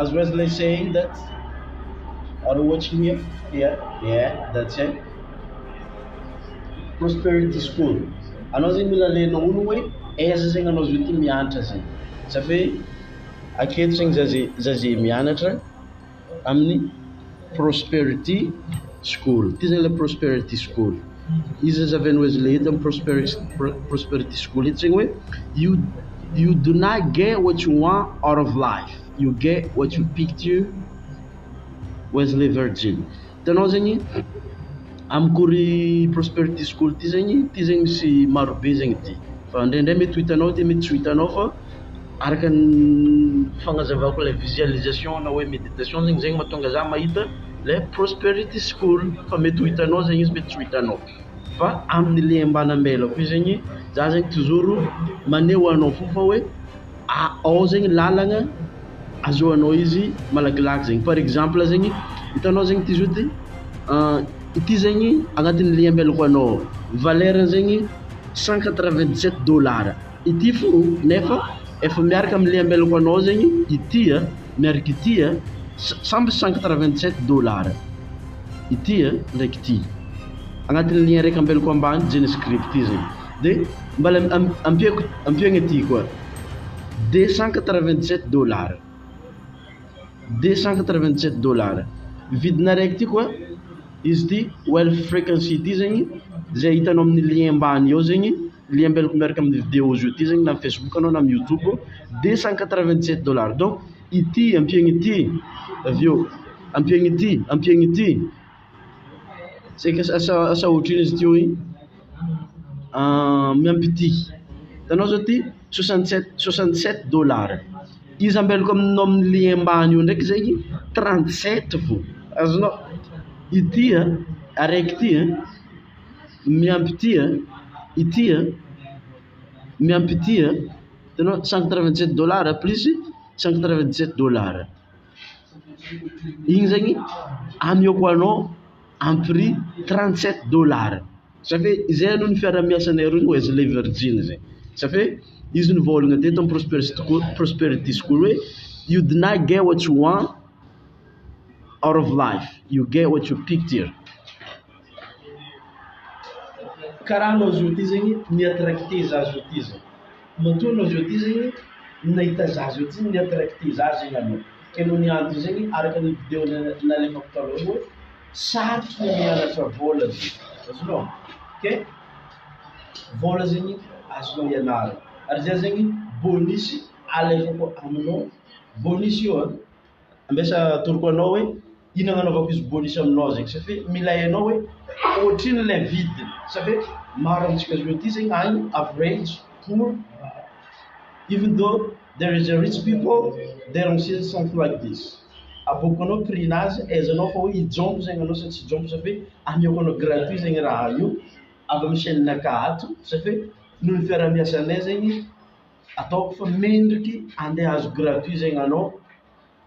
As Wesley saying that ary ohatry ny hoe yeah that's it prosperity school anao zegny mila alainao hono hoe aiza zegny anao zao ty mianatra zegny za fe aketo zegny za ze za ze mianatra amin'ny prosperity school. Ity izany ilay prosperity school. Iza izy avy any Wesley hita amin'ny prosperity, prosperity school hita izany hoe you, you do not get what you want out of life, you get what you picture Wesley Virgin. Hitanao zegny, amiko ry prosperity school ty zegny, ty zegny misy marobe zegny ty, fa ndraindray mety ho hitanao ty mety tsy ho hitanao fa araka ny fagnazavako ilay visualisation na hoe méditation zegny, zegny mahatonga za mahita ilay prosperity school, fa mety ho hitanao zegny izy mety tsy ho hitanao, fa amin'ny le ambanambelako io zegny za zegny toujours maneho anao fo fa hoe. ao zegny lalagna azahoanao izy malakilaky zegny par exemple zegny hitanao zegny ity zody ity zegny agnatin'ny lien amelako anao valeur ny zegny cent quatre vingt dix sept dollars ity fô nefa efa miaraka amin'ny lien amelako anao zegny ity a miaraka ity a sa- samby cent quatre vingt dix sept dollars ity a ndraiky ity agnatin'ny lien raiky ambelako ambany jean script ity zegny De mbala ampiako ampio agne ty koa deux cent quatre vingt sept dollars deux cent quatre vingt sept dollars vidina araiky ty koa izy ty well frequency ity zegny zay hitanao amin'ny lien ambany eo zegny lien ambelako miaraka amin'ny video zio ty zegny na amin'ny facebook anao na amin'ny youtube deux cent quatre vingt sept dollars donc ity ampiagna ity avy eo ampiagna ity ampiagna ity Saika asa asa otrino izy ty hoy miampy ity hitanao zao ty soixante sept soixante sept dollars izy ambelako aminao aminy le ambany eo ndraiky zay trente sept vao azonao ity a araiky ity a miampy ity a ity a miampy ity a hitanao cent quatre vingt sept dollars plus cent quatre vingt sept dollars. Igny zegny amis au point non à un prix trente sept dollars sa fe izay aloha ny fiarahamiasanay roa no eslay virgin zay sa fe izy nivôlagna teto am prosperity school prosperity school hoe you deny get what you want out of life you get what you pick there karaha anao zao ty zegny mi attracte za zao ty zany. Matoa anao zao ty zegny nahita za zao ty ny attracte za zegny anao ke noho ny antony zegny araka ny video nalefako taloha hoe sarotra ny mianatra vôla zegny azonao ke vôla zegny azonao ianarana ary zay zegny bonus alefako aminao bonus io an ambesa atoroko anao hoe Iny agnanaovako izy bonus am nao zegny safe milay anao hoe ohatrino lay vidiny safe maro amintsika zao ty zegny agny average pour even though there is a rich people there are still something like this aboako anao prix nazy aizanao fa hoe hijompy zegny anao sa tsy hijompy safe ameako anao gratuit zegny raha io avy amy chaine naka ato safe noho ny fiarahamiasanay zegny ataoko fa mendriky ande azo gratuit zegny anao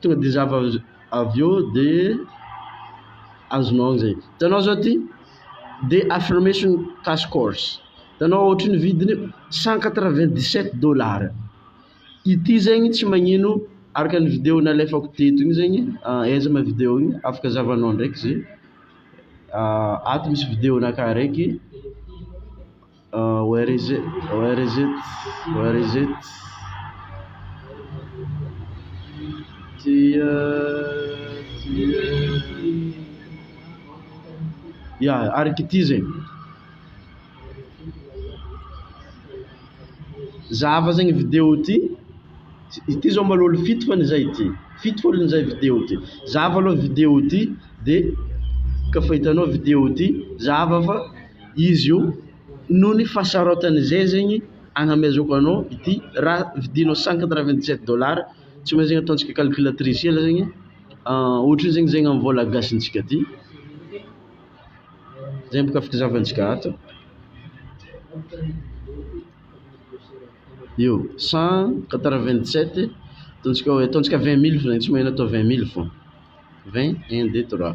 Tonga de zava avy eo de azonao an'izay. Hitanao zao ty de affirmation task course. Hitanao ohatry ny vidiny cent quatre vingt dix sept dollars. Ity zegny tsy magnino araka ny video nalefako teto igny zegny aiza ma video igny afaka zahavanao ndraiky ze ato misy video-na ka araiky. Where is it? Where is it? Where is it? Tia, tia. Ya, araka ity zegny. Zahava zegny video ity. Ity zao mbôla olo fito fô zay ity. Fito fô olo zay video ity. Zahava alôha video ity de kaofa hitanao video ity, zahava fa. izy io noho ny fahasaraotany izay zegny agnamezako anao ity raha vidinao cinquante na vingt sept dollars tsy maintsy zegny ataontsika calculatrice hely zegny ohatry ny zegny zegny amin'ny vôla gasintsika aty zay bôka afaka zahavantsika ato io cent quatre vingt sept ataontsika hoe ataontsika vingt mille franc tsy maheno atao vingt mille fô vingt un deux trois.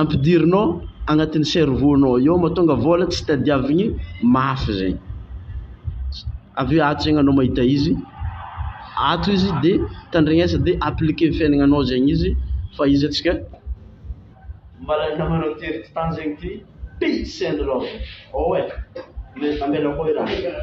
ampidirinao agnatin'ny cerveau nao eo matonga vôla tsy tadiavigny mafy zegny avy eo ato zegny anao mahita izy ato izy de tandrignesa de applique amy fiaignanao zegny izy fa izy atsika mbola namanao tery ty tany zegny ty pitsy anareo ô e ambela koa i raha.